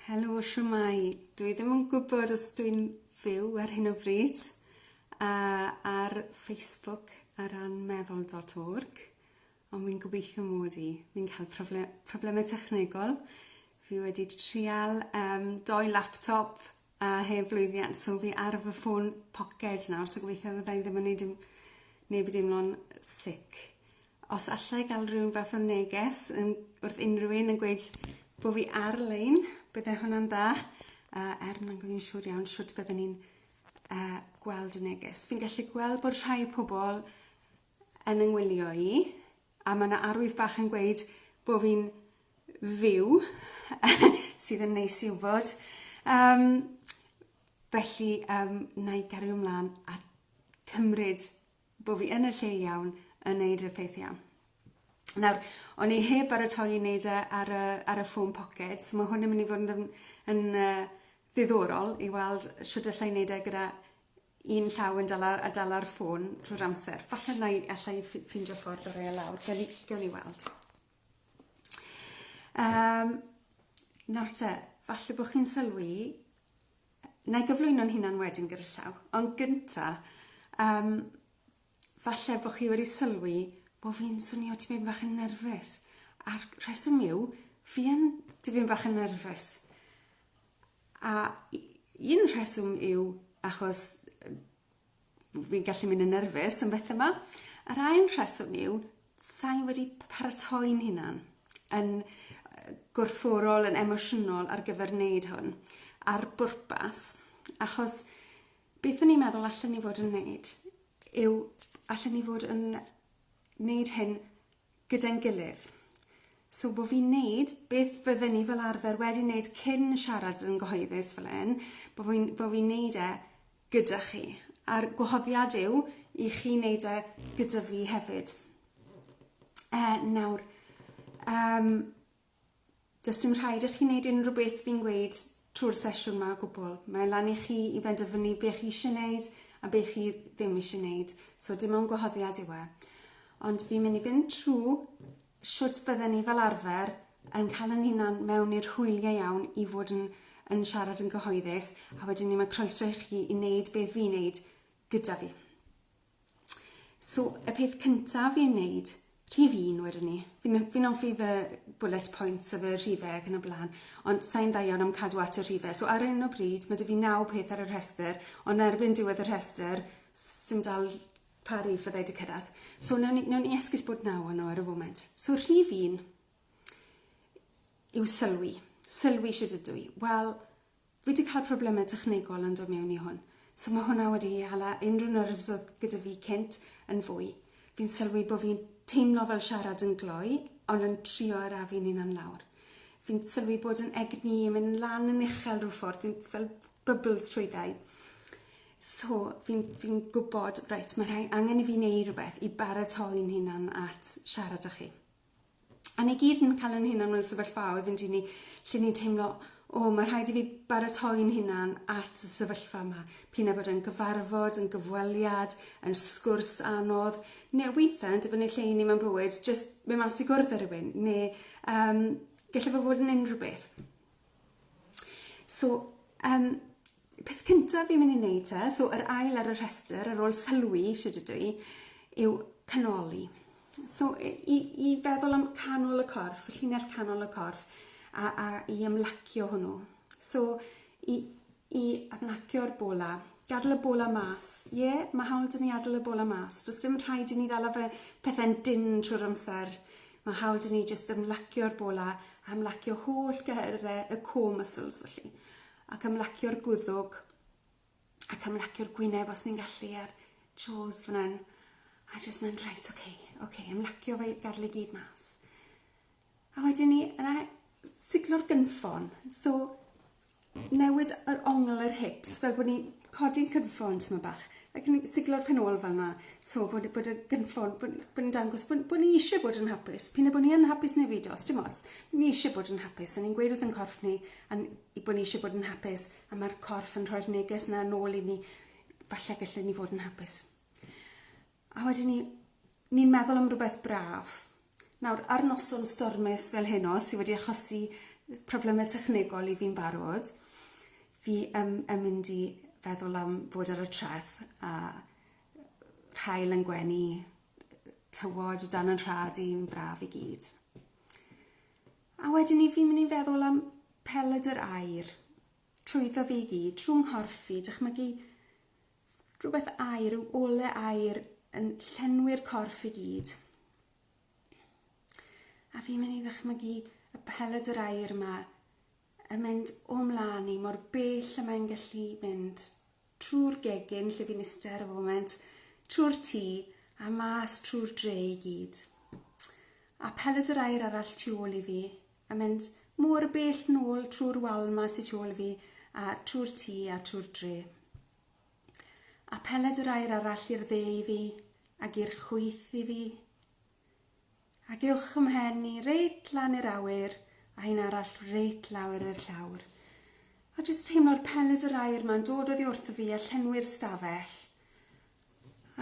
Helo, siwmai. Dwi ddim yn gwybod os dwi'n fyw ar hyn o bryd a ar Facebook ar ran meddwl.org, ond mi'n gobeithio mod i. Mi'n cael profle problemau technegol. Fi wedi trial um, doi laptop A heb lwyddiant, so fi ar fy ffôn poced nawr, so gobeithio fydda i'n ddim yn neud neb i deimlo'n sic. Os alla i gael rhywun fath o neges yn, wrth unrhyw un yn gweud bod fi ar-lein, bydde hwnna'n dda, uh, er mae'n gwneud yn siŵr iawn siwt bydden ni'n uh, gweld y neges. Fi'n gallu gweld bod rhai pobl yn ynghwylio i, a mae yna arwydd bach yn gweud bod fi'n fyw, sydd yn neis i wybod. Um, felly, um, na i gario ymlaen a cymryd bod fi yn y lle iawn yn neud y peth iawn. Nawr, o'n i heb baratoi i wneud e ar y, ar y ffôn poced, so mae hwn yn mynd i fod yn, yn uh, ddiddorol i weld sut allai wneud e gyda un llaw yn dala, a dala'r ffôn drwy'r amser. Falle na i allai ffindio ffordd o rei e lawr. Gawn ni, gawn ni weld. Yym, nawr te, falle bod chi'n sylwi, wna i gyflwyno'n hunan wedyn gyda llaw, ond gynta, yym, falle bod chi wedi sylwi bod fi'n swnio tipyn bach yn nerfus, a'r rheswm yw, fi yn tipyn bach yn nerfus, a un rheswm yw achos fi'n gallu mynd yn nerfus am bethau yma. Yr ail rheswm yw, sa'i wedi paratoi'n hunan yn gorfforol, yn emosiynol ar gyfer wneud hwn, ar bwrpas, achos beth o'n i'n meddwl allan ni fod yn wneud yw allan ni fod yn wneud hyn gyda'n gilydd. So bod fi'n wneud beth fydden ni fel arfer wedi wneud cyn siarad yn gyhoeddus fel hyn, bod fi'n bo fi wneud e gyda chi. A'r gwahoddiad yw i chi wneud e gyda fi hefyd. E, nawr, um, Does dim rhaid i chi wneud unrhyw beth fi'n gweud trwy'r sesiwn 'ma o gwbl. Mae lan i chi i benderfynu be chi eisiau wneud a be chi ddim eisiau wneud, so dim ond gwahoddiad yw e. Ond fi'n mynd i fynd trwy shwt bydden ni fel arfer yn cael yn hunan mewn i'r hwyliau iawn i fod yn, yn siarad yn gyhoeddus, a wedyn ni mae croeso i chi i wneud be fi'n wneud gyda fi. So, y peth cyntaf i ei wneud, rhif un wedwn i. Fi'n n- fi'n hoffi fy bullet points a fy rhife ac yn y blaen, ond sa i'n dda iawn am cadw at y rhife. So ar hyn o bryd ma' 'da fi naw peth ar y rhestr, ond erbyn diwedd y rhestr s- sim dal pa rif fydda i 'di cyrraedd. So newn ni newn ni esgus bod naw o nhw ar y foment. So rhif un yw sylwi. Sylwi shwd ydw i. Wel, Fi di cael problemau technegol yn dod mewn i hwn, so ma hwnna wedi hala unrhyw nerves oedd gyda fi cynt yn fwy. Fi'n sylwi bo fi'n teimlo fel siarad yn gloi, ond yn trio arafu'n hunan lawr. Fi'n sylwi bod yn egni yn mynd lan yn uchel rhyw ffordd, fi'n fel bubbles trwy ddau. So fi'n fi'n gwbod, reit, ma rhai angen i fi neu rhywbeth i baratoi'n hunan at siarad â chi. A ni gyd yn cael yn hunan mewn sefyllfaoedd yn dyn ni lle ni'n teimlo, o, mae rhaid i fi baratoi'n hunan at y sefyllfa yma. Pyn a bod yn gyfarfod, yn gyfweliad, yn sgwrs anodd, neu weithiau yn dibynnu lle i ni mewn bywyd, jyst mynd mas i gwrdd â rhywun, neu um, gallai fe fod yn unrhyw beth. So, yym, peth cynta fi'n mynd i neud te, so yr ail ar y rhestr ar ôl sylwi shwd ydw i, yw canoli. So i i i feddwl am canol y corff, y llinell canol y corff a a i ymlacio hwnnw. So i i adnacio'r bola. Gadl y bola mas. Ie, mae hawl 'da ni adl y bola mas. Does dim rhaid i ni ddala fe pethau'n dynn trwy'r amser. Mae hawl 'da ni jyst ymlacio'r bola a ymlacio holl gehyrau y core muscles felly. Ac ymlacio'r gwddwg ac ymlacio'r gwyneb os ni'n gallu a'r jaws fan hyn. A jyst mynd, reit, oce, okay, oce, okay, ymlacio fe, gadl i gyd mas. A wedyn ni yna siglo'r gynffon. So newid yr ongl yr hips fel bod ni'n codi'n cynffon tymed bach ac yn siglo'r pen ôl fel 'na so bod bod y gynffon bod bod yn dangos bod bod ni isie bod yn hapus p'un a bo' ni yn hapus neu beidio sdim ots ni isie bod yn hapus a ni'n gweud wrth 'yn corff ni a'n i bo' ni isie bod yn hapus a ma'r corff yn rhoi'r neges 'na nôl i ni falle gelle ni fod yn hapus. A wedyn ni, ni'n meddwl am rywbeth braf. Nawr, ar noson stormus fel heno, sydd wedi achosi problemau technegol i fi'n barod, fi yn, yn mynd i feddwl am fod ar y treth a rhael yn gwenu tywod o dan yn rhad i'n braf i gyd. A wedyn ni fi'n mynd i feddwl am peled yr air trwyddo fi i gyd, trwy nghorff fi, dychmygu Rhywbeth aer, rhyw ole aer yn llenwi'r corff i gyd. A fi'n mynd i ddychmygu y peled yr aer yma yn mynd o mlaen i mor bell y mae'n gallu mynd trwy'r gegin lle fi'n iste ar y foment, trwy'r tŷ a mas trwy'r dre i gyd. A peled yr aer arall tu ôl i fi A mynd mor bell nôl trwy'r wal 'ma sy tu ôl fi, a trwy'r tŷ, a trwy'r dre. A peled yr aer arall i'r dde i fi, ac i'r chwith i fi. Ac uwch ym mhen i, reit lan i'r awyr, a un arall reit lawr i'r llawr. A jyst teimlo'r peled yr aer 'ma'n dod oddi wrtho fi a llenwi'r stafell.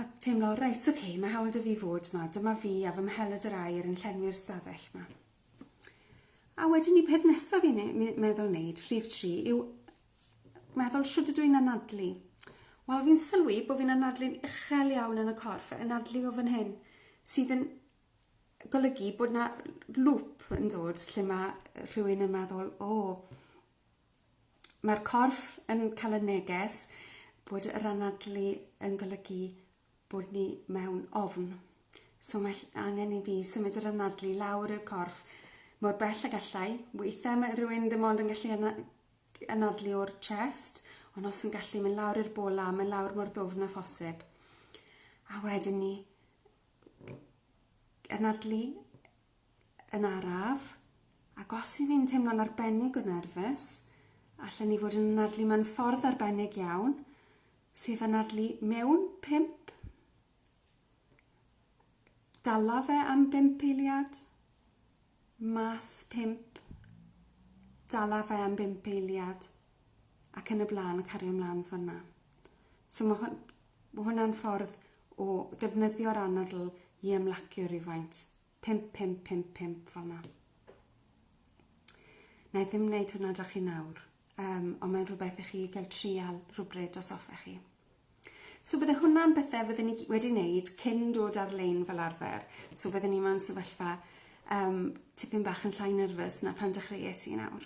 A teimlo, reit, oce, mae hawl 'da fi fod 'ma, dyma fi a fy mheled yr aer yn llenwi'r stafell 'ma. A wedyn ni peth nesaf i meddwl wneud, rhif tri, yw meddwl shwt ydw i'n anadlu. Wel, fi'n sylwi bod fi'n anadlu'n uchel iawn yn y corff, anadlu o fan hyn, sydd yn golygu bod na lŵp yn dod lle mae rhywun yn meddwl, o, mae'r corff yn cael y neges bod yr anadlu yn golygu bod ni mewn ofn. So mae angen i fi symud yr anadlu i lawr i'r corff mor bell a gallai. Weithiau mae rhywun ddim ond yn gallu anadlu o'r chest, ond os yn gallu mynd lawr i'r bola, mynd lawr mor ddwfn a phosib. A wedyn ni anadlu yn araf, ac os 'y ni'n teimlo'n arbennig o nerfus, allen ni fod yn anadlu mewn ffordd arbennig iawn, sef anadlu mewn pump, dala fe am bump eiliad, mas pump, dala fe am bump eiliad, ac yn y blaen, cario mlaen fan'na. So mae hwn, mae hwnna'n ffordd o ddefnyddio'r anadl i ymlacio rhywfaint. 5, 5, 5, 5, fel yna. Na i ddim wneud hwnna dra chi nawr, um, ond mae'n rhywbeth i chi gael trial rhywbryd os hoffech chi. So bydde hwnna'n bethau fydden ni wedi wneud cyn dod ar-lein fel arfer. So bydden ni mewn sefyllfa um, tipyn bach yn llai nerfus na pan dechreuais i nawr.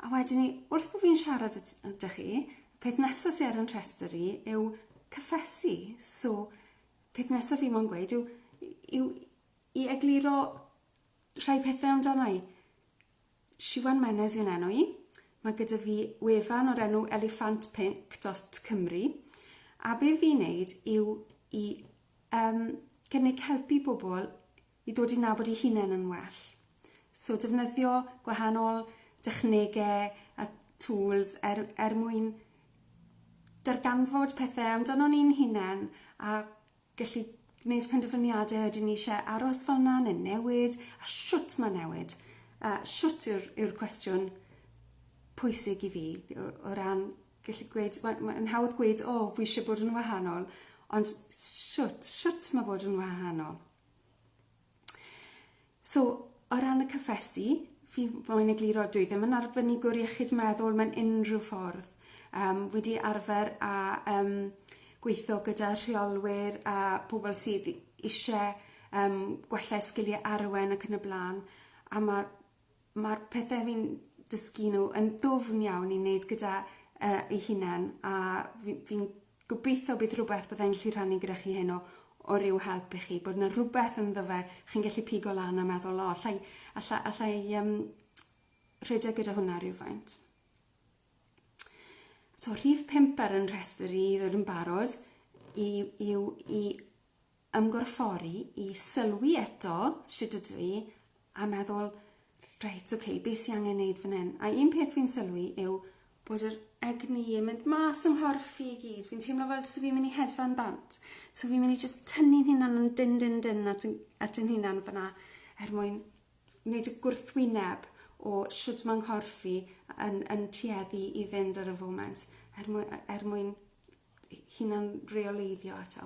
A wedyn ni, wrth bod fi'n siarad ydych chi, y peth nesaf sydd ar yn rhestr i yw cyffesu. So, peth nesaf fi mo'n gweud yw, yw i egluro rhai pethau amdana i. Siwan Menez yw'n enw i. Mae gyda fi wefan o'r enw elefantpink.cymru. A be fi'n neud yw i um, cynnig helpu bobl i ddod i nabod eu hunain yn well. So defnyddio gwahanol dechnege a tŵls er er mwyn darganfod pethe amdanon ni'n hunain a gallu gwneud penderfyniade ydyn ni isie aros fel 'na ne' newid a shwt ma' newid a shwt yw'r yw'r cwestiwn pwysig i fi o o ran gallu gweud ma' ma'n hawdd gweud o fi isie bod yn wahanol ond shwt shwt ma' bod yn wahanol? So, o ran y cyffesu, fi moyn egluro, dwi ddim yn arbenigwr iechyd meddwl mewn unrhyw ffordd. Yym wi 'di arfer â yym gweitho gyda rheolwyr a pobol sydd i- isie yym gwella sgilie Arwen ac yn y bla'n a ma' mae'r pethe fi'n dysgu nhw yn ddwfn iawn i wneud gyda yy ei hunan a fi fi'n gobeithio bydd rhywbeth byddai'n gallu rhannu gyda chi heno o ryw help i chi, bod 'na rhywbeth ynddo fe chi'n gallu pigo lan a meddwl o allai alla allai yym rhedeg gyda hwnna rywfaint. So rhif 5 ar 'yn rhestr i i ddod yn barod i yw i ymgorffori i sylwi eto shwt ydw i a meddwl reit ok be sy angen neud fan hyn a un peth fi'n sylwi yw bod yr egni yn mynd mas yng nghorff fi i gyd fi'n teimlo fel tase fi'n mynd i hedfan bant so fi'n mynd i jyst tynnu'n hunan yn dyn dyn dyn at yn at yn hunan fana er mwyn neud y gwrthwyneb o shwt ma' nghorff fi yn yn tueddu i fynd ar y foment er mwy- er mwyn hunan reoleiddio eto.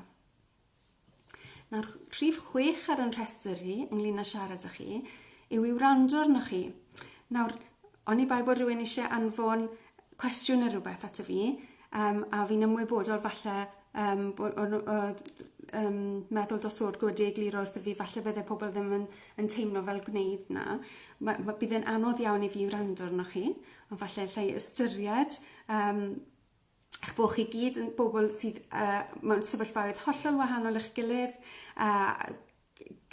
Nawr, rhif chwech ar yn rhestr i, ynglyn â siarad â chi, yw i wrando arnoch chi. Nawr, oni bai bod rhywun eisiau anfon cwestiwn neu rhywbeth ato fi, um, a fi'n ymwybodol falle um, bod, o'n, oedd um, meddwl dot o'r gwrdd egluro wrth i fi, falle bydde pobl ddim yn, yn teimlo fel gwneud na. Mae, mae, bydd e'n anodd iawn i fi wrando arnoch chi, ond falle lle i ystyried um, eich bod chi gyd yn bobl sydd uh, mewn sefyllfaoedd hollol wahanol i'ch gilydd, a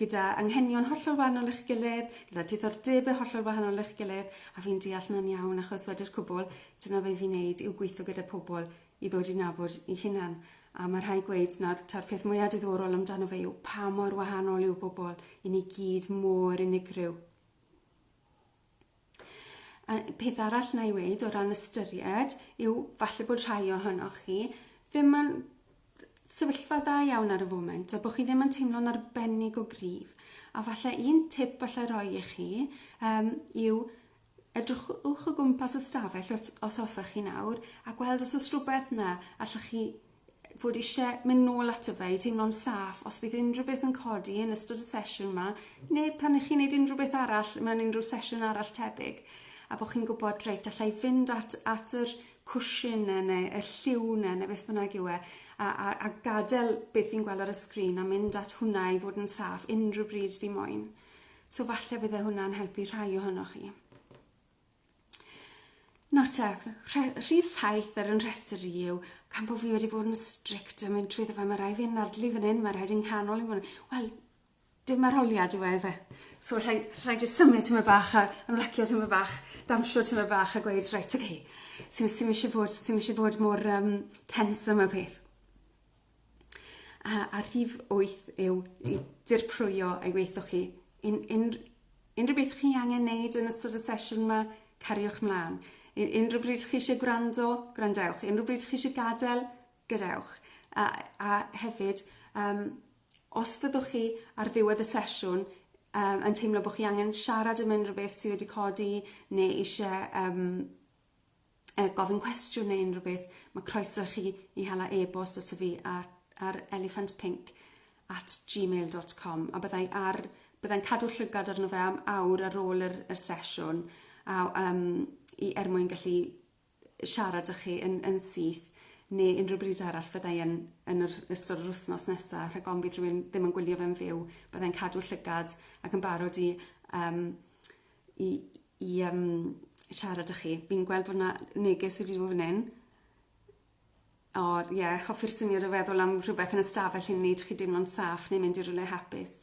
gyda anghenion hollol wahanol i'ch gilydd, gyda diddordebau hollol wahanol i'ch gilydd, a fi'n deall na'n iawn achos wedi'r cwbl, dyna fe fi'n neud yw gweithio gyda pobl i ddod i nabod i hunan. A mae rhai gweud nawr ta'r peth mwyaf diddorol amdano fe yw pa mor wahanol yw bobl, i ni gyd mor unigryw. A peth arall na i weud o ran ystyried yw falle bod rhai ohonoch chi ddim yn sefyllfa dda iawn ar y foment a bod chi ddim yn teimlo'n arbennig o gryf. A falle un tip allai roi i chi um, yw edrychwch o gwmpas y stafell os hoffech chi nawr a gweld os oes rhywbeth na allwch chi fod eisiau mynd nôl ato fe i teimlo'n saff os bydd unrhyw beth yn codi yn ystod y sesiwn yma neu pan ych chi'n neud unrhyw beth arall mewn unrhyw sesiwn arall tebyg a bod chi'n gwybod reit alla i fynd at, at yr cwshin ne, neu y lliw ne, neu beth bynnag yw e a, a, a gadael beth fi'n gweld ar y sgrin a mynd at hwnna i fod yn saff unrhyw bryd fi moyn. So falle bydde hwnna'n helpu rhai ohonoch chi. Nawr te, rhif saith ar yn rhestr i yw, gan bod fi wedi bod yn strict yn mynd trwyddo fe, mae rhaid fi'n nadlu fan hyn, mae rhaid i'n nghanol i fan hyn. Wel, dim arholiad yw e fe. So rhaid, rhaid i symud tyma bach a ymlacio tyma bach, damsio tyma bach a gweud, reit, oce, okay, sy'n eisiau bod, sy'n eisiau bod mor um, tense yma peth. A, a rhif wyth yw i dirprwyo ei weithwch chi. Un, un, unrhyw beth chi angen neud yn ystod y sesiwn yma, cariwch mlaen. Un, unrhyw bryd chi eisiau gwrando, gwrandewch. Unrhyw bryd chi eisiau gadael, gadewch. A, a hefyd, um, os fyddwch chi ar ddiwedd y sesiwn um, yn teimlo bod chi angen siarad am unrhyw beth sydd wedi codi neu eisiau um, yy gofyn cwestiwn neu unrhyw beth, mae croeso i chi i hala e-bost ato fi ar, ar elephantpink at gmail.com a byddai ar, byddai'n cadw llygad arno fe am awr ar ôl yr, yr sesiwn a, um, i, er mwyn gallu siarad â chi yn, yn syth neu unrhyw bryd arall fyddai yn, yn yr ystod yr wythnos nesaf rhag ofn bydd rhywun ddim yn gwylio fe'n fyw byddai'n cadw llygad ac yn barod i um, i i yym siarad â chi. Fi'n gweld bo' 'na neges wedi do' fyn 'yn. O ie hoffi'r syniad o feddwl am rhwbeth yn y stafell i neud chi deimlo'n saff neu mynd i rywle hapus.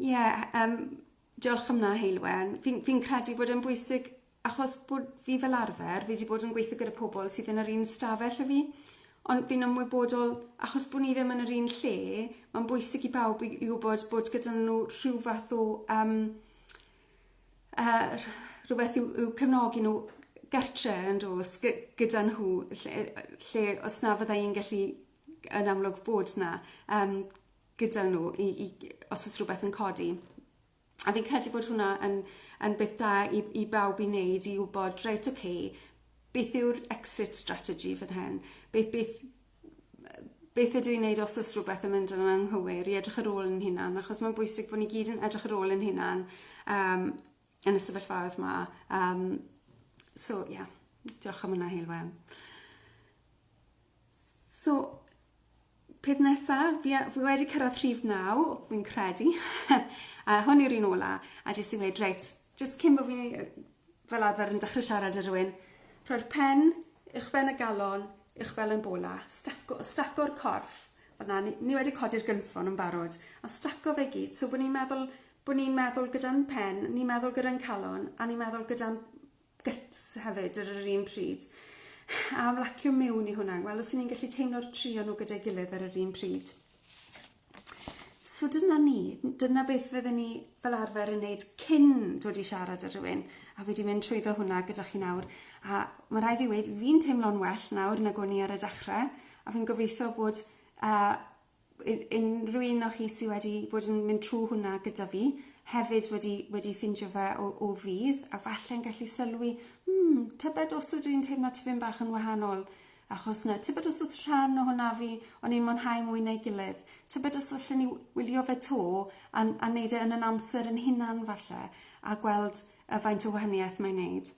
Ie yym diolch am 'na Heulwen. Fi'n fi'n credu bod e'n bwysig achos bod fi fel arfer fi 'di bod yn gweitho gyda pobol sydd yn yr un stafell â fi ond fi'n ymwybodol achos bo' ni ddim yn yr un lle ma'n bwysig i bawb i i wbod bod gyda n'w rhyw fath o yym yy rh- rhywbeth i'w i'w cefnogi n'w gartre yn do's? Gy- gyda nhw ll- yy yy lle os na fydda i'n gallu yn amlwg bod 'na yym gyda n'w i i g- os o's rhwbeth yn codi a fi'n credu bod hwnna yn yn beth da i i bawb i neud i wbod reit ok beth yw'r exit strategy fan hyn? Be- beth beth ydw i'n wneud os oes rhywbeth yn mynd yn anghywir, i edrych ar ôl yn hunan, achos mae'n bwysig bod ni gyd yn edrych ar ôl yn hunan um, yn y sefyllfaoedd yma. Um, so, ie, yeah. diolch am hwnna, Heilwen. So, peth nesaf, fi, fi wedi cyrraedd rhif naw, fi'n credu. a hwn yw'r un ola, a jyst i wedi, reit, jyst cyn bod fi fel arfer yn dechrau siarad â rhywun, rhoi'r pen uwchben y galon, uwchben y bola, staco, staco'r corff, fel na, ni, ni wedi codi'r gynffon yn barod, a staco fe gyd, so bod ni'n meddwl, bod ni'n meddwl gyda'n pen, ni'n meddwl gyda'n calon, a ni'n meddwl gyda'n gyts hefyd ar yr un pryd. A ymlacio mewn i hwnna, wel os ni'n gallu teimlo'r tri o'n nhw gyda'i gilydd ar yr un pryd. So dyna ni, dyna beth fydden ni fel arfer yn neud cyn dod i siarad â rhywun, a fi 'di mynd trwyddo hwnna gyda chi nawr, a ma' rai' fi weud fi'n teimlo'n well nawr nag o'n i ar y dechre, a fi'n gobeithio bod yy u- unrhyw un o chi sy wedi bod yn mynd trw hwnna gyda fi hefyd wedi wedi ffindio fe o o fudd, a falle'n gallu sylwi, hmm, tybed os ydw i'n teimlo tipyn bach yn wahanol Achos na, tybed os oes rhan o hwn a fi, o'n i'n mwynhau mwy na'i gilydd. Tybed os allen i wylio fe 'to a a neud e yn yn amser yn hunan falle, a gweld yy faint o wahaniaeth mae'n neud.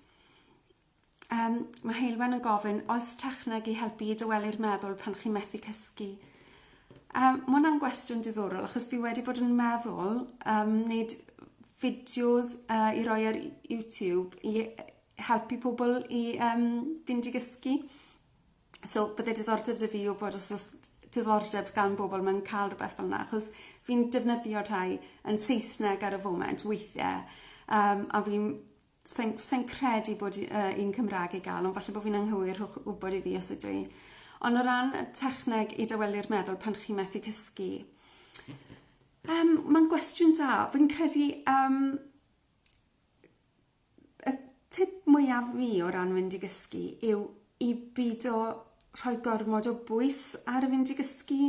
Yym, mae Heulwen yn gofyn, oes techneg i helpu i dawelu'r meddwl pan chi'n methu cysgu? A mae hwnna'n gwestiwn diddorol achos fi wedi bod yn meddwl um, wneud fideos uh, i roi ar YouTube i helpu pobl i yym fynd i gysgu. So bydde diddordeb 'da fi yw bod os o's diddordeb gan bobol mewn ca'l rwbeth fel 'na achos fi'n defnyddio rhai yn Saesneg ar y foment weithie yym a fi'n sai'n sai'n credu bod u- yy un Cymra'g i ga'l ond falle bo' fi'n anghywir rhowch wbod i fi os ydw i. Ond o ran y techneg i dawelu'r meddwl pan chi methu cysgu yym ma'n gwestiwn da fi'n credu yym y tip mwyaf fi o ran fynd i gysgu yw i beidio rhoi gormod o bwys ar y fynd i gysgu,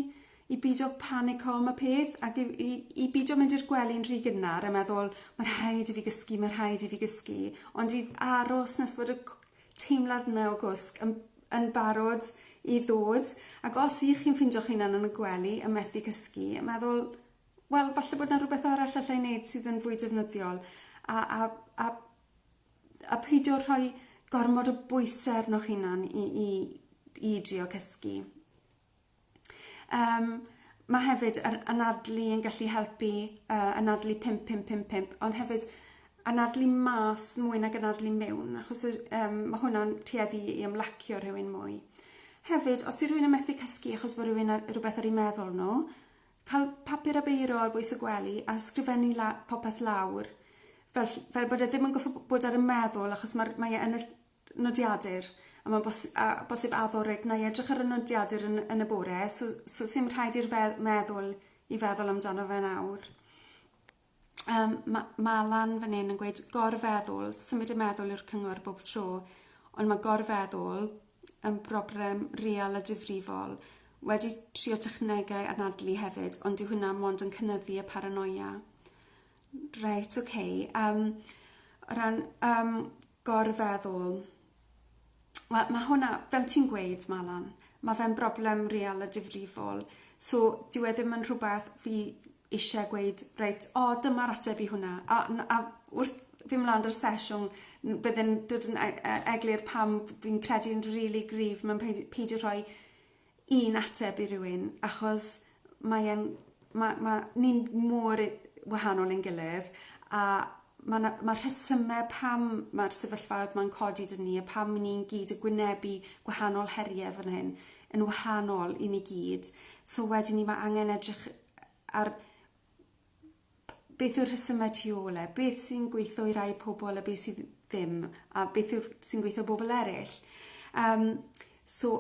i beidio panico am y peth ac i, i, i beidio mynd i'r gwely'n rhy gynnar a meddwl mae rhaid i fi gysgu, mae rhaid i fi gysgu, ond i aros nes bod y teimlad yna o gwsg yn, yn barod i ddod. Ac os ych chi'n ffeindio'ch hunan yn y gwely yn methu cysgu, meddwl, wel, falle bod 'na rywbeth arall allai wneud sydd yn fwy defnyddiol, a a a a peidio rhoi gormod o bwysau arnoch hunan i i i drio cysgu. Um, mae hefyd yr anadlu yn gallu helpu, uh, anadlu 5555, ond hefyd anadlu mas mwy nag anadlu mewn, achos um, mae hwnna'n tueddu i ymlacio rhywun mwy. Hefyd, os yw rhywun yn methu cysgu achos bod rhywun ar, rhywbeth ar ei meddwl nhw, Cael papur a beiro ar bwys y gwely a ysgrifennu la- popeth lawr fel ll- fel bod e ddim yn goffo' b- bod ar 'y meddwl achos ma'r mae e yn y ll- nodiadur a ma'n bos- a bosib addo reit 'nai edrych ar y nodiadur yn yn y bore so so sim rhaid i'r fe- meddwl i feddwl amdano fe nawr. Yym ma' ma' lan fan 'yn yn gweud gorfeddwl, symud y meddwl yw'r cyngor bob tro ond ma' gorfeddwl yn broblem real a difrifol. Wedi trio technegau anadlu hefyd ond dyw hwnna mond yn cynyddu y paranoia. Reit ok yym o ran yym gorfeddwl. Wel, mae hwnna, fel ti'n gweud, Malan, mae fe'n broblem real a difrifol. So, dyw e ddim yn rhywbeth fi eisiau gweud, reit, o, oh, dyma'r ateb i hwnna. A, a wrth fi mlaen dy'r sesiwn, byddai'n dod yn e, e, eglur pam fi'n credu yn rili really gryf mewn peidio rhoi un ateb i rywun achos mae e'n... ma' ma'... Ni mor u- wahanol i'n gilydd a ma' 'na... Ma'r rhesyme pam ma'r sefyllfaoedd 'ma'n codi 'da ni a pam 'yn ni'n gyd yn gwynebu gwahanol herie fan hyn yn wahanol i ni gyd so wedyn 'ny ma' angen edrych ar beth yw'r rhesymau tu ôl e, beth sy'n gweithio i rai pobl a beth sydd ddim, a beth yw'r sy'n gweithio bobl eraill. Um, so,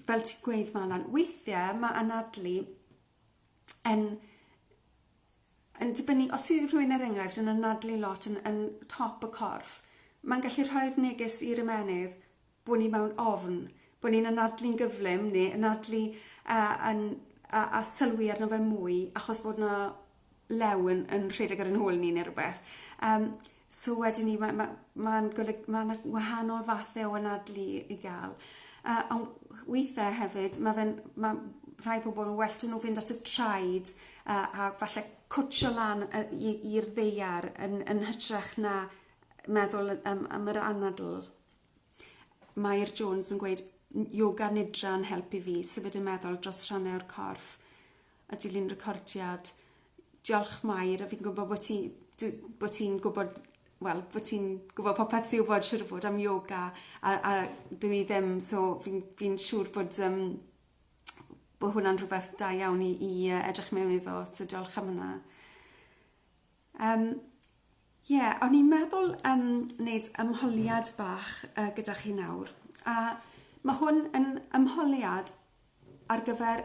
fel ti'n gweud, Malan, weithiau mae anadlu yn yn dibynnu, os yw rhywun er enghraifft yn anadlu lot yn, yn top y corff, mae'n gallu rhoi'r neges i'r ymenydd, bod ni mewn ofn, bod ni'n anadlu'n gyflym neu anadlu a yn a a sylwi arno fe mwy achos bod 'na lew yn yn rhedeg ar 'yn hôl ni ne' rwbeth yym so wedyn 'ny ma' ma' ma'n golyg- ma' 'na wahanol fathe o anadlu i ga'l yy on' withe hefyd ma' fe'n ma' rhai pobol ma' well 'dy n'w fynd at y traed a a falle cwtsho lan yy i i'r ddaear yn yn hytrach na meddwl yn yym am yr anadl. Mair Jones yn gweud, Yoga Nidra yn help i fi symud y meddwl dros rhannau o'r corff a dilyn recordiad. Diolch Mair, a fi'n gwybod bod ti, dw- bod ti'n gwybod, wel, bod ti'n gwybod popeth ti wybod siŵr o fod am yoga a, a dw i ddim, so fi'n fi siŵr bod um, bod hwnna'n rhywbeth da iawn i, i edrych mewn iddo, so diolch am hwnna. Yym, ie, o'n i'n meddwl yym neud ymholiad bach yy gyda chi nawr, a ma' hwn yn ymholiad ar gyfer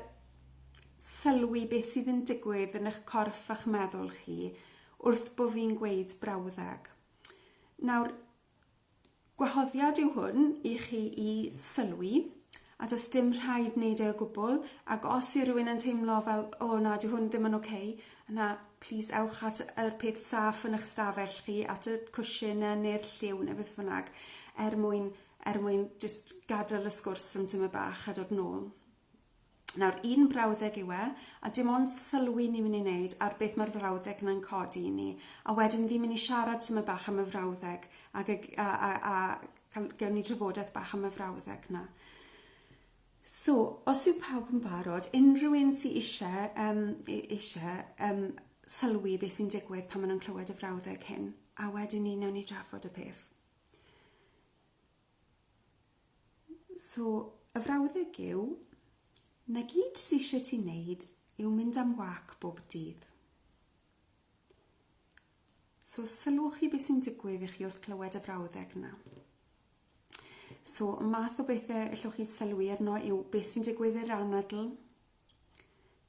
sylwi beth sydd yn digwydd yn eich corff a'ch meddwl chi wrth bo' fi'n gweud brawddeg. Nawr, Gwahoddiad yw hwn i chi i sylwi, a does dim rhaid wneud e o gwbl, ac os yw rhywun yn teimlo fel 'O, na, dyw hwn ddim yn ocê', yna plîs ewch at yr peth saff yn eich stafell chi, at y cwshin ne- neu'r lliw neu beth bynnag, er mwyn er mwyn jyst gadael y sgwrs am tymed bach a dod nôl. Nawr, un brawddeg yw e, a dim ond sylwi ni'n mynd i wneud ar beth mae'r frawddeg yna'n codi i ni, a wedyn fi'n mynd i siarad tymed bach am y frawddeg, ac y, a, a, a cael, gawn ni drafodaeth bach am y frawddeg na. So, os yw pawb yn barod, unrhyw un sy'n eisiau, um, eisiau um, sylwi beth sy'n digwydd pan maen nhw'n clywed y frawddeg hyn, a wedyn ni newn ni drafod y peth. So, y frawddeg yw, 'na gyd sy eisiau ti wneud yw mynd am wâc bob dydd. So, sylwch chi beth sy'n digwydd i chi wrth glywed y frawddeg yna. So, y math o bethau allwch chi sylwi arno yw beth sy'n digwydd i'r anadl,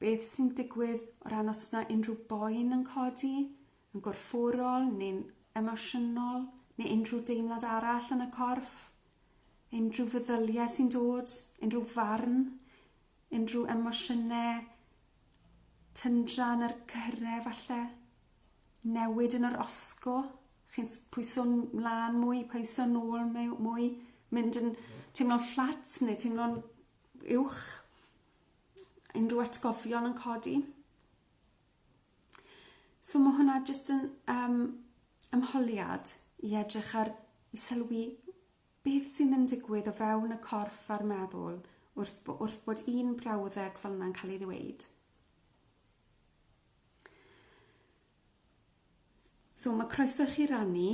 Beth sy'n digwydd o ran os na unrhyw boen yn codi, yn gorfforol neu'n emosiynol, neu unrhyw deimlad arall yn y corff? Unrhyw feddyliau sy'n dod, unrhyw farn, unrhyw emosiynau tyndra yn yr cyhyrau falle? Newid yn yr osgo? Chi'n pwyso'n mlân mwy, pwyso'n ôl mwy, mynd yn teimlo'n fflat neu teimlo'n uwch. Unrhyw atgofion yn codi. So mae hwnna jyst yn um, ymholiad i edrych ar i sylwi beth sy'n mynd digwydd o fewn y corff a'r meddwl wrth, wrth bod un brawddeg fel yna'n cael ei ddweud. So ma' croeso i chi rannu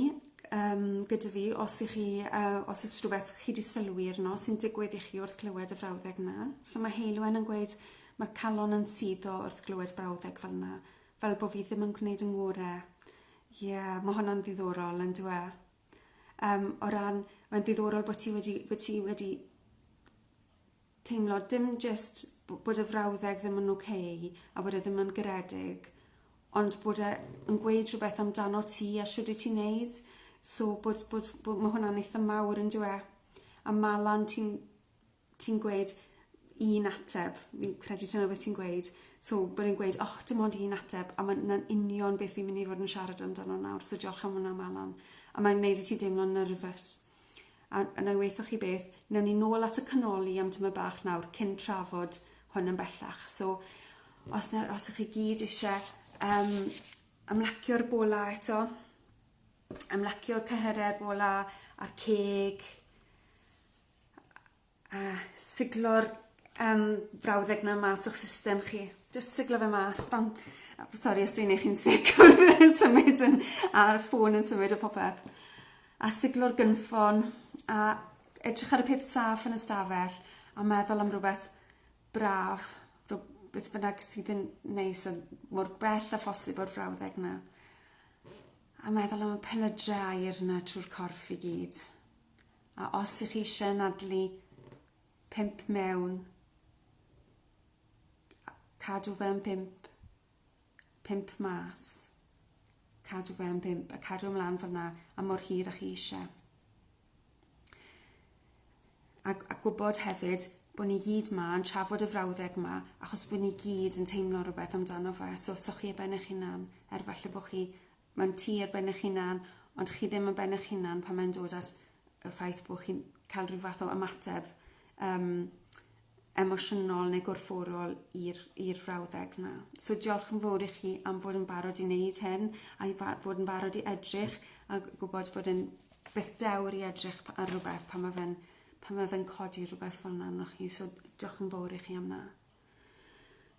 yym gyda fi os 'ych chi yy os o's rhwbeth chi 'di sylwi arno sy'n digwydd i chi wrth glywed y frawddeg 'na. So ma' Heulwen yn gweud ma'r calon yn suddo wrth glywed brawddeg fel 'na. Fel bo' fi ddim yn gwneud 'y ngore. Ie ma' honna'n ddiddorol on'd yw e? Yym o ran mae'n ddiddorol bo' ti wedi bo' ti wedi teimlo dim jyst bod y frawddeg ddim yn ok a bod e ddim yn garedig, ond bod e yn gweud rhywbeth amdano ti a shwd i ti'n neud. So bod, bod, bod mae hwnna'n eitha mawr yn dwe. A Malan ti'n ti gweud un ateb, fi'n credu ti'n rhywbeth ti'n gweud, so bod e'n gweud, oh, dim ond un ateb, a mae'n union beth fi'n mynd i fod yn siarad amdano nawr, so diolch am hwnna Malan. A mae'n gwneud i ti deimlo'n nervous. A wna i waetho chi beth, wnawn ni nôl at y canoli am tyma bach nawr cyn trafod hwn yn bellach. So, os, na, os ych chi gyd eisiau um, ymlacio'r bola eto, ymlacio cyhyrau'r bola a'r ceg, A siglo'r um, frawddeg na mas o'ch system chi. Just siglo fe mas. Bam. Sorry os dwi'n eich chi'n sic yn symud yn, a'r ffôn yn symud o popeth. A siglo'r gynffon a edrych ar y peth saf yn y stafell a meddwl am rhywbeth braf, rhywbeth bynnag sydd yn neis a mor bell a phosib o'r frawddeg na. A meddwl am y pelydre air na trwy'r corff i gyd. A os ych chi eisiau anadlu pump mewn, cadw fe yn bump, pump mas, cadw fe yn bump, a cario ymlaen fyna am mor hir â chi eisiau. A, a gwybod hefyd bod ni gyd ma yn trafod y frawddeg ma, achos bod ni gyd yn teimlo rhywbeth amdano fe, so sochi e ben eich hunan, er falle bod chi Mae'n tir ben eich hunan, ond chi ddim yn ben eich hunan pan mae'n dod at y ffaith bod chi'n cael rhyw fath o ymateb um, emosiynol neu gorfforol i'r frawddeg yna. So diolch yn fawr i chi am fod yn barod i wneud hyn a i fod yn barod i edrych a gwybod bod yn beth dewr i edrych ar rhywbeth pan mae fe'n pan mae fe'n codi rhywbeth fel yna arnoch chi. So diolch yn fawr i chi am yna.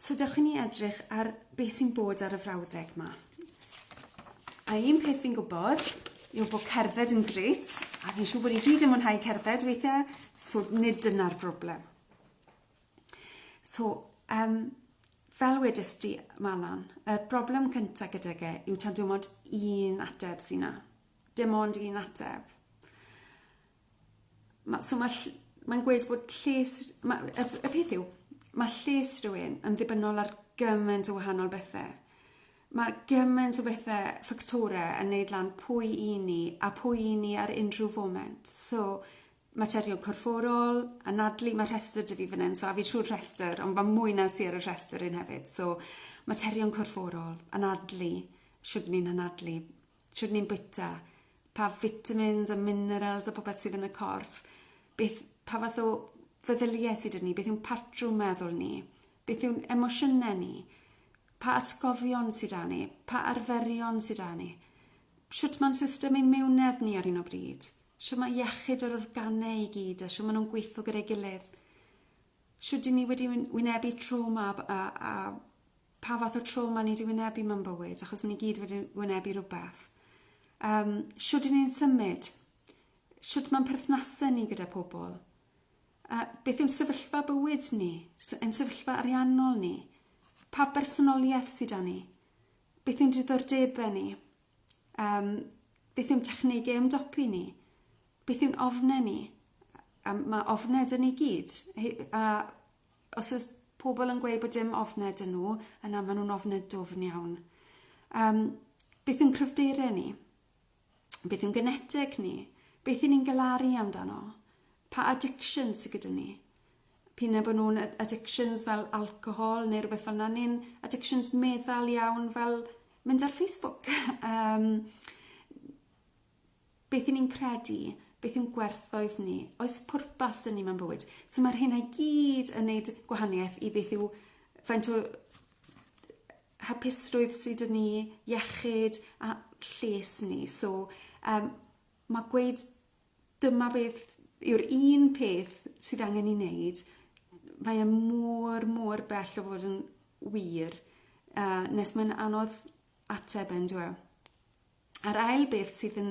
So dewch i ni edrych ar beth sy'n bod ar y frawddeg yma. A un peth fi'n gwybod yw bod cerdded yn gret, a fi'n siŵr bod ni gyd yn mwynhau cerdded weithiau, so nid dyna'r broblem. So, um, fel wedys di, Malan, y broblem cyntaf gyda ge yw tan dim ond un ateb sy'n na. Dim ond un ateb. Ma- so ma' ll- mae'n gweud bod lles... ma' y y peth yw, ma' lles rhywun yn ddibynnol ar gymaint o wahanol bethe. Ma' gymaint o bethe, ffactore yn neud lan pwy 'y ni a pwy 'y ni ar unrhyw foment. So materion corfforol, anadlu, ma' rhestyr 'dy fi fyn 'yn so a fi trwy'r rhestyr ond ma' mwy na sy ar y rhestyr un hefyd so materion corfforol, anadlu, shwd 'yn ni'n anadlu, shwt ni'n bwyta, pa vitamins a minerals a popeth sydd yn y corff, beth, pa fath o feddyliau sydd 'da ni, beth yw'n patrwm meddwl ni, beth yw'n emosiynau ni, pa atgofion sydd 'da ni, pa arferion sydd 'da ni, shwt mae'n system ein mewnedd ni ar hyn o bryd, shwt mae iechyd yr organau i gyd a shwt maen nhw'n gweithio gyda'i gilydd, shwt 'dyn ni wedi wynebu trawma a, a, a pa fath o trawma ni 'di wynebu mewn bywyd, achos ni gyd wedi wynebu rhywbeth. Um, shwd i ni'n symud? Shwd mae'n perthnasau ni gyda pobl? Uh, beth yw'n sefyllfa bywyd ni? Yn sefyllfa ariannol ni? Pa bersonoliaeth sydd â ni? Beth yw'n diddordebau ni? Um, beth yw'n technegau ymdopi ni? Beth yw'n ofnau ni? Um, mae ofnau dyn ni gyd. A os oes pobl yn gweud bod dim ofned yn nhw, yna maen nhw'n ofned dwfn iawn. Um, beth yw'n cryfderau ni? Beth yw'n geneteg ni? Beth yw'n ni'n galaru amdano? Pa addiction sydd gyda ni? Pyn bod nhw'n addictions fel alcohol neu rhywbeth fel yna, neu'n addictions meddal iawn fel mynd ar Facebook. um, beth y'n ni'n credu, beth yw'n gwerthoedd ni, oes pwrpas dyn ni mewn bywyd. So mae'r hyn i gyd yn neud gwahaniaeth i beth yw faint o hapusrwydd sydd dyn ni, iechyd a lles ni. So um, mae gweud dyma beth yw'r un peth sydd angen ei wneud, mae e mor, mor bell o fod yn wir, uh, nes mae'n anodd ateb yn dweud. A'r ail beth sydd yn,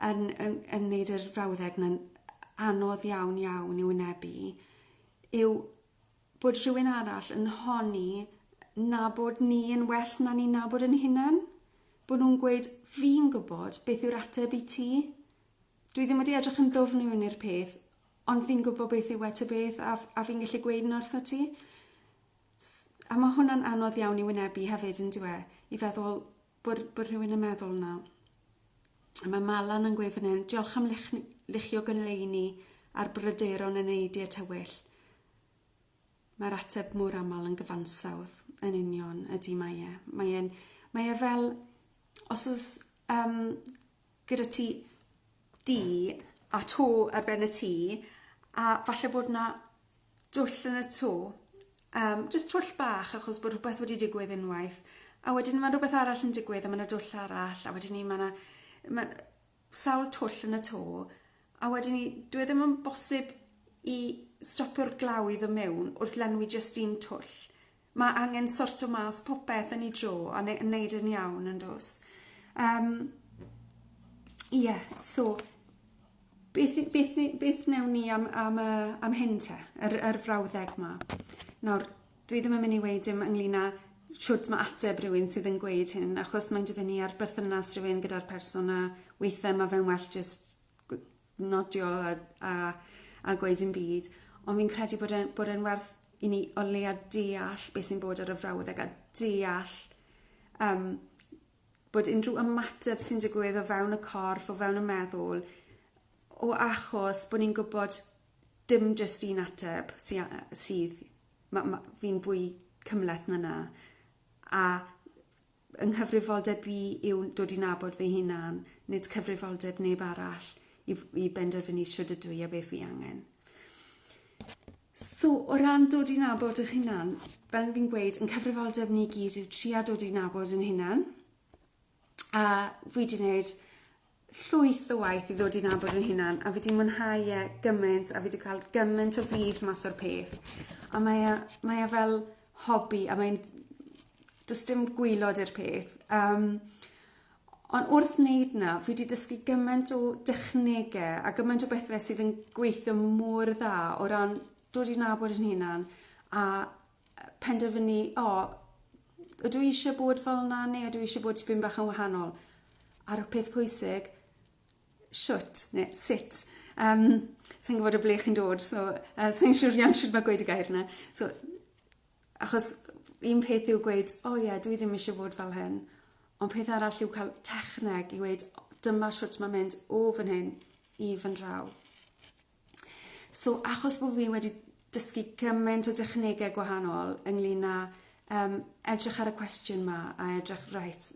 yn, yn, yn wneud yr frawddeg yna'n anodd iawn iawn i'w wynebu yw bod rhywun arall yn honni na bod ni yn well na ni'n nabod yn hunain. Bod nhw'n gweud, fi'n gwybod beth yw'r ateb i ti. Dwi ddim wedi edrych yn ddwfn i wneud peth, ond fi'n gwybod beth yw e ta beth a, a fi'n gallu gweud yn wrtho ti. A mae hwnna'n anodd iawn i wynebu hefyd yn diwe, i feddwl, Bod, bod rhywun yn meddwl na. A mae Malan yn gweud fan hyn, diolch am lich, lichio gynleini a'r bryderon yn ei diet tywyll. Mae'r ateb mor aml yn gyfansawdd yn union ydy mae e. Mae e'n, mae e fel, os oes um, gyda ti di a to ar ben y tŷ a falle bod 'na dwll yn y to yym jyst twll bach achos bod rhywbeth wedi digwydd unwaith a wedyn ma' rhywbeth arall yn digwydd a ma' 'na dwll arall a wedyn 'ny ma' 'na ma' sawl twll yn y to a wedyn 'ny dyw e ddim yn bosib i stopio'r glaw i ddo' mewn wrth lenwi jyst un twll. Mae angen sortio mas popeth yn ei dro a ne- wneud e'n iawn yn does? Yym ie so beth i- beth i- beth wnewn ni am am y am hyn te? Yr yr frawddeg 'ma. Nawr dwi ddim yn myn' i weud dim ynglŷn â shwd ma' ateb rywun sydd yn gweud hyn achos mae'n dibynnu ar berthynas rhywun gyda'r person a weithe ma' fe'n well jyst gw- nodio a, a, a gweud yn byd, ond fi'n credu bod e'n bod e werth i ni o leia deall beth sy'n bod ar y frawddeg a deall um, bod unrhyw ymateb sy'n digwydd o fewn y corff, o fewn y meddwl, o achos bod ni'n gwybod dim jyst un ateb sydd, ma, ma, fi'n fwy cymleth na na, a Fy nghyfrifoldeb i yw dod i nabod fy hunan, nid cyfrifoldeb neb arall i i benderfynu shwd ydw i a beth fi angen. So o ran dod i nabod eich hunan, fel fi'n gweud, yn cyfrifoldeb ni gyd yw tria dod i nabod yn hunan. A fi 'di neud llwyth o waith i ddod i nabod fy hunan a fi 'di mwynhau e gyment a fi 'di cael gyment o fudd mas o'r peth. A mae e mae e fel hobi a mae'n does dim gwylod i'r peth. Um, ond wrth wneud na, fi wedi dysgu gymaint o dechnegau a gymaint o bethau sydd yn gweithio mor dda o ran dod i nabod yn hunan a penderfynu, o, ydw i eisiau bod fel yna neu ydw i eisiau bod tipyn bach yn wahanol? A'r peth pwysig, shwt neu sut. Um, sa'n gwybod o ble chi'n dod, so uh, sa'n siŵr iawn siwr mae gweud y gair yna. So, achos un peth yw gweud, o oh, ie, yeah, dwi ddim eisiau bod fel hyn, ond peth arall yw cael techneg i weud, dyma shwt mae'n mynd o fan hyn i fan draw. So achos bod fi wedi dysgu gymaint o dechnegau gwahanol ynglyn â um, edrych ar y cwestiwn ma a edrych reit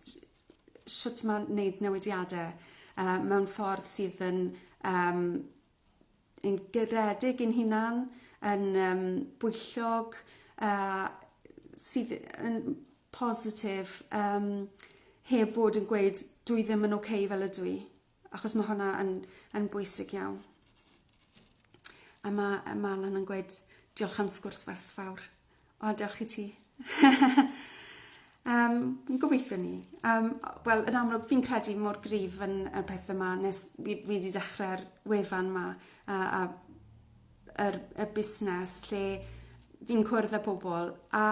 sut mae'n wneud newidiadau uh, mewn ffordd sydd yn um, yn gyredig yn hunan, yn um, bwyllog, uh, sydd yn positif, um, heb fod yn gweud dwi ddim yn oce okay fel ydw i. achos mae hwnna yn, yn bwysig iawn. A mae, mae Alan yn gweud, diolch am sgwrs werthfawr. O, diolch i ti. um, gobeithio ni. Um, Wel, yn amlwg, fi'n credu mor grif yn y peth yma, nes fi, fi wedi dechrau'r wefan yma, a, a yr, y busnes lle fi'n cwrdd â pobl, a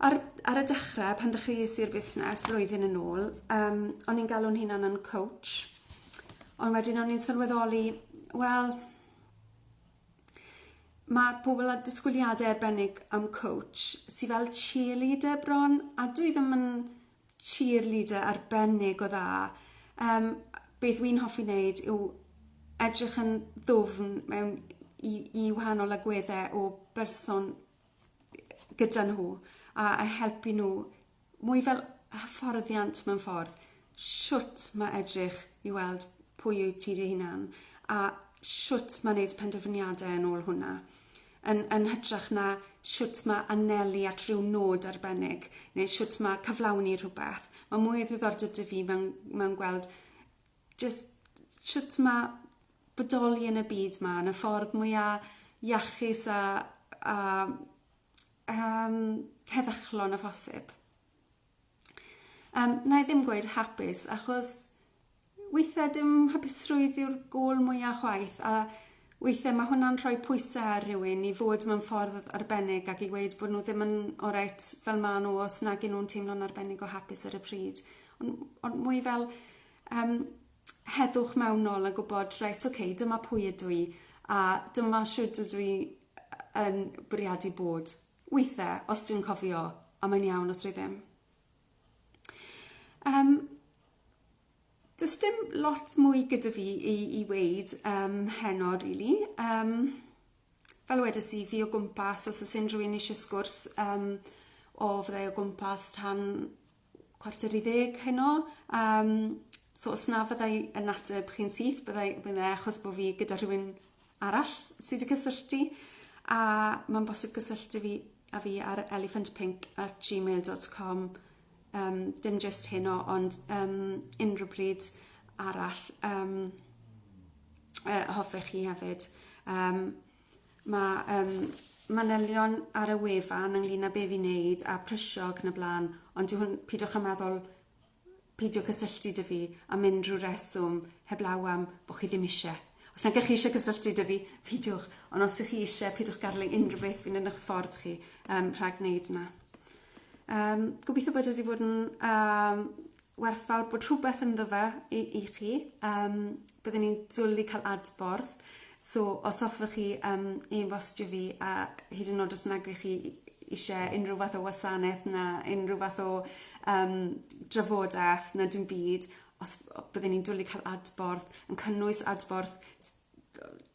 Ar ar y dechre pan ddechreuais i'r busnes flwyddyn yn ôl yym o'n i'n galw'n hunan yn coach ond wedyn o'n i'n sylweddoli wel ma' pobol â disgwyliade arbennig am coach sy fel cheerleader bron a dwi ddim yn cheerleader arbennig o dda yym beth wi'n hoffi neud yw edrych yn ddwfn mewn i i wahanol agwedde o berson gyda nhw a a helpu nhw mwy fel hyfforddiant mewn ffordd. Shwt ma' edrych i weld pwy wyt ti dy hunan a shwt ma' neud penderfyniade yn ôl hwnna. Yn yn hytrach na shwt ma' anelu at ryw nod arbennig neu shwt ma' cyflawni rhwbeth. Ma' mwy o ddiddordeb 'da fi mewn mewn gweld jyst shwt ma' bodoli yn y byd 'ma yn y ffordd mwya iachus a a yym heddychlon â phosib. Yym na'i ddim gweud hapus achos withe dim hapusrwydd yw'r gôl mwya chwaith a withe ma' hwnna'n rhoi pwyse ar rywun i fod mewn ffordd arbennig ac i weud bod n'w ddim yn oreit fel ma' n'w os nag 'yn nw'n teimlo'n arbennig o hapus ar y pryd. On' on' mwy fel Yym, heddwch mewn nôl a gwybod, reit, ok, dyma pwy ydw i, a dyma shwd ydw i yn bwriadu bod. Weithe, os dwi'n cofio, a mae'n iawn os dwi ddim. Um, does dim lot mwy gyda fi i, i weid um, heno, really. Um, fel wedes i, fi o gwmpas, os oes unrhyw un eisiau sgwrs um, o fyddai o gwmpas tan chwarter i ddeg heno, yym so os na fyddai yn ateb chi'n syth byddai byddai achos bod fi gyda rhywun arall sydd wedi cysylltu a mae'n bosib cysylltu fi a fi ar elephantpink at gmail.com um, dim just heno ond um, unrhyw bryd arall um, uh, hoffech chi hefyd um, Mae yym manylion ar y wefan ynglyn â be fi'n neud a prysio ac yn y blaen, ond dyw hwn... pidwch â meddwl peidio cysylltu 'da fi am unrhyw reswm heblaw am bo' chi ddim isie. Os nag 'ych chi isie cysylltu 'da fi, peidiwch, ond os 'ych chi isie, pidwch gadel i unrhyw beth fynd yn 'ych ffordd chi yym rhag neud 'na. Yym, gobeithio bod e 'di bod yn yym werthfawr bod rhywbeth ynddo fe i, i chi. Um, byddwn ni'n dwlu cael adborth. So, os hoffech chi um, e-bostio fi, a hyd yn oed os nag ych chi eisiau unrhyw fath o wasanaeth na unrhyw fath o um, drafodaeth na dim byd, os byddwn ni'n dwlu cael adborth, yn cynnwys adborth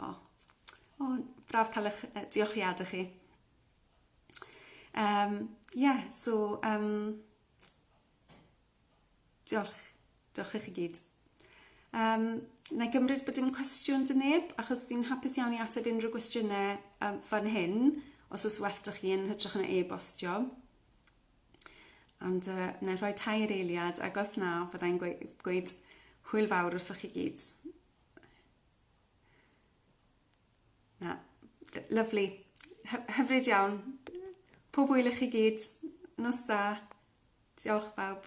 O, o, braf cael eich uh, diolchiadau chi. Um, yeah, so, um, diolch, diolch i chi gyd. Um, na i gymryd bod dim cwestiwn dyn neb, achos fi'n hapus iawn i ateb unrhyw gwestiynau um, fan hyn, os oes well da chi yn hytrach yn e-bostio. Ond uh, na i rhoi tair eiliad, agos na, fyddai'n gweud, gweud hwyl fawr wrthych chi gyd. Na, lyfli. Hyfryd iawn. Pob hwyl i chi gyd. Nos da. Diolch bawb.